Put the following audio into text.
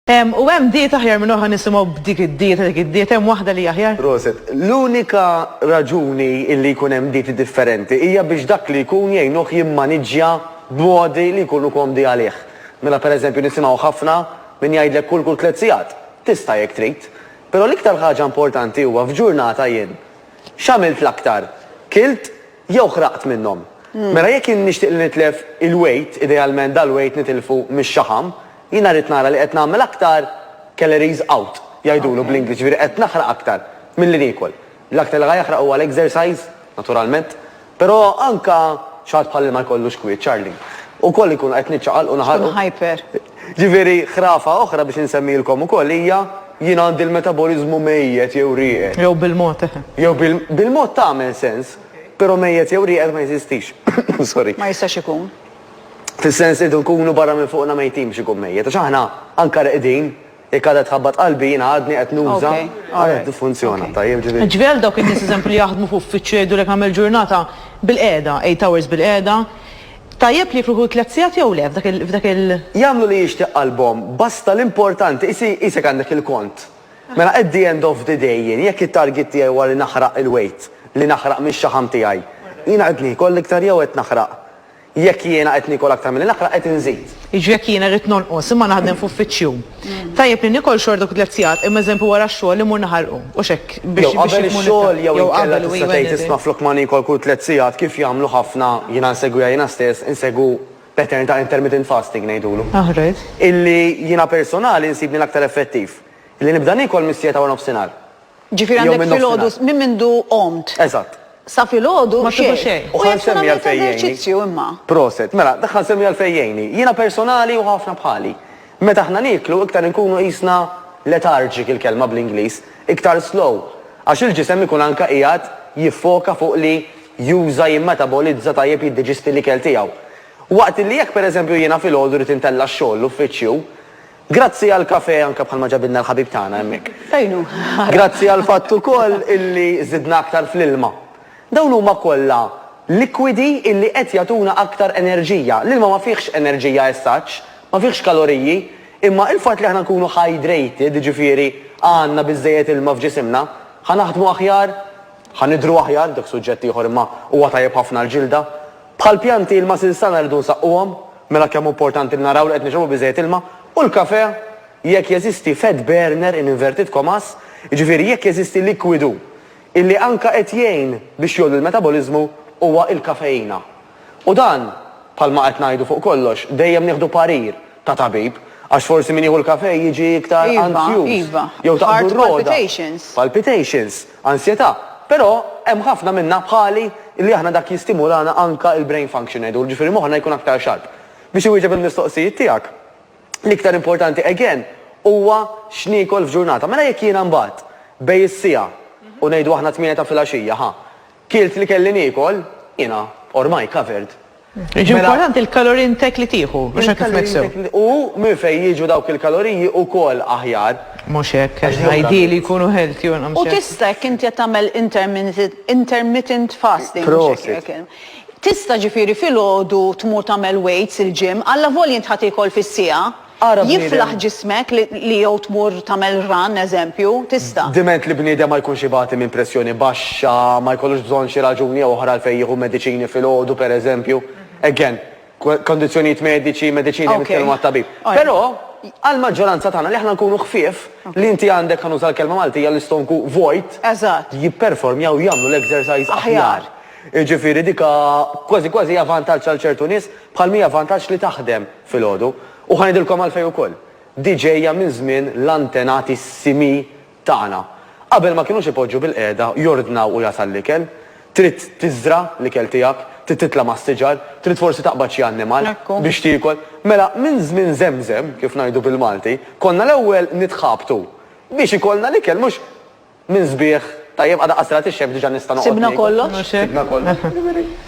Hemm u hemm dieta aħjar minn oħra nisimgħu b'dik id-dieta dik id-dieta hemm waħda li hi aħjar? Proset. L-unika raġuni illi jkun hemm dieti differenti hija biex dak li jkun jgħinuh jimmaniġġja b'modi li jkunu komdi għalih. Mela per eżempju nisimgħu ħafna min jgħidlek kul kull tliet sigħat. Tista' jekk trid. Però l-iktar ħaġa importanti huwa f'ġurnata jien x'għamilt l-aktar? Kilt? Jew ħraqt minnhom. Mela jekk jien nixtieq li nitlef il-wejt, idealment dal-wejt nitilfu mix-xaħam, jiena rrid nara li qed nagħmel aktar calories out, jgħidulu bl-Ingliż, jiġifieri qed naħraq aktar milli niekol. L-aktar li ħa jaħraq huwa l-exercise, naturalment. Però anke xi ħadd bħal li ma jkollux kwiet, Charlene, ukoll inkunu qed niċċaqalqu naħarqu. Tkun hyper. Jiġifieri ħrafa oħra biex insemmilkom ukoll hija, Jien għandi l-metaboliżmu mejjet jew rieqed. Jew bil-mod, eħe. Jew bil-mod tagħmel sens, però mejjet jew rieqed ma jeżistix. Sorry. Ma jistax ikun. Fis-sens li rridu nkunu barra minn fuqna mejtin biex ikun mejjet. Għax aħna anke reqdin, jekk għadha tħabbat qalbi jiena għadni qed nuża għal qed niffunzjona, tajjeb, ġifieri. Jiġifieri għal dawk in-nies eżempju li jaħdmu f'uffiċċju jgħidulek nagħmel ġurnata bil-qiegħda, eight hours bil-qiegħda, Tajjeb li jifruħu tliet sigħat jew le f'dak il. Jagħmlu li jixtieq qalbhom, basta l-importanti qisek għandek il-kont. Mela at the end of the day jien jekk it-target tiegħi huwa li naħraq il-weight li naħraq mix-xaħam tiegħi, jiena qed niekol iktar jew qed naħraq? Jekk jiena qed niekol aktar milli naħraq qed inżid. Jiġri jekk jiena rrid nonqos imma naħdem f'uffiċċju. Tajjeb li nikol xorta kont qed sigħat imma eżempju wara x-xogħol immur naħarqu, hux hekk biex Jew qabel ix-xogħol jew inkella tista' tgħid isma' flok ma niekol kul tliet sigħat kif jagħmlu ħafna, jiena nsegwiha jiena stess, insegwu pattern ta' intermittent fasting ngħidulu. Illi jiena personali nsibni l-aktar effettiv. Illi nibda niekol mis-siegħa ta' waranofsinhar. Ġifieri Jew għandek minn nofsinhar. filgħodu s- minn mindu qomt Eżatt. sa filgħodu Ma tieħu xejn. U ħa nsemmi għalfejn jgħinni. eżerċizzju imma. Proset. Mela, dak ħa nsemmi għalfejn jgħinni. Jiena personali u ħafna bħali. Meta aħna nieklu, iktar inkunu qisna lethargic il-kelma bl-Ingliż, iktar slow, għax il-ġisem ikun anke qiegħed jiffoka fuq li juża, jimmetabolizza tajjeb jiddiġisti l-ikel tiegħu. Waqt li jekk pereżempju jiena filgħodu rrid intella' x-xogħol, l-uffiċċju, Grazzi għall-kafè anke bħalma ġabilna l-ħabib tagħna hemmhekk. Fejn hu? Grazzi għall-fatt ukoll illi żidna aktar fl-ilma. Dawn huma kollha likwidi illi qed jagħtuna aktar enerġija. L-ilma ma fihx enerġija as such, ma fihx kaloriji, imma il-fatt li aħna nkunu hydrated, jiġifieri għandna biżżejjed ilma f'ġisimna, ħa naħdmu aħjar, ħa nidhru aħjar, dak suġġett ieħor imma huwa tajjeb ħafna għall-ġilda, Bħal pjanti ilma sinsana rridu nsaqquhom, mela kemm hu importanti li naraw li qed nixrobu biżżejjed ilma, u l-kafè, jekk jeżisti fat burner in inverted commas, jiġifieri jekk jeżisti likwidu illi anke qed jgħin biex jgħolli l-metaboliżmu huwa il-kafeina. U dan, bħalma qed ngħidu fuq kollox, dejjem nieħdu parir ta' tabib, għax forsi min jieħu l-kafè jiġi iktar anzjuż jew taqbdu r-rogħda, palpitations. ansjetà, però hemm ħafna minna bħali li aħna dak jistimulana anka il-brain function ngħidulu, ġifieri moħħna jkun aktar sharp. Biex iwieġeb il-mistoqsijiet tiegħek, l-iktar importanti again huwa x'niekol f'ġurnata. Mela jekk jiena mbagħad bejn is-siegħa u ngħidu aħna tmienja ta' filgħaxija, ħa, kilt li kelli niekol, jiena ormai covered Jiġi Mela- importanti l-kaloriji intek li tieħu, mhux hekk kif Il-kaloriji nifsew. tek li- U minn fejn jiġu dawk il-kaloriji ukoll aħjar. Mhux hekk, Għax li ideally jgħidu- jkunu healthy u nqam U xejn. tista' jekk inti qed tagħmel interminit- intermittent fasting, mhux hekk Prosit. jgħid. Tista' ġifieri filgħodu tmur tagħmel weights il-gym, allavolja int ħa tiekol fis-siegħa. Ara bniedem. Jiflaħ ġismek li jew tmur tagħmel run, eżempju, tista'. Diment li bniedem ma jkunx ibati minn pressjoni baxxa, ma jkollux bżonn xi raġuni jew oħra għalfejn jieħu mediċini filgħodu, pereżempju. Again, kondizzjonijiet mediċi, mediċini hemm jitkellmu mat-tabib. Però, għall-maġġoranza tagħna li aħna nkunu ħfief, li inti għandek, ħa nuża l-kelma Maltija, l-istonku vojt, jipperformjaw, jagħmlu l-exercise aħjar. Jiġifieri dik kważi kważi hija vantaġġ għal ċertu nies, bħalma hija vantaġġ li taħdem. filgħodu, u ħa ngħidilkom għalfejn ukoll. Di ġejja minn żmien l-antenati s-simi tagħna. Qabel ma kinux ipoġġu bil-qiegħda jordnaw u jasal l-ikel. Trid tiżra' l-ikel tiegħek, trid titla' mas-siġar, trid forsi taqbad xi annimal biex tiekol. Mela minn żmien żemżem, kif ngħidu bil-Malti, konna l-ewwel nitħabtu biex ikollna l-ikel mhux minn sbieħ, tajjeb, għada qasra tixxekk diġà nista' noqgħod niekol. Sibna kollox. Sibna kollox.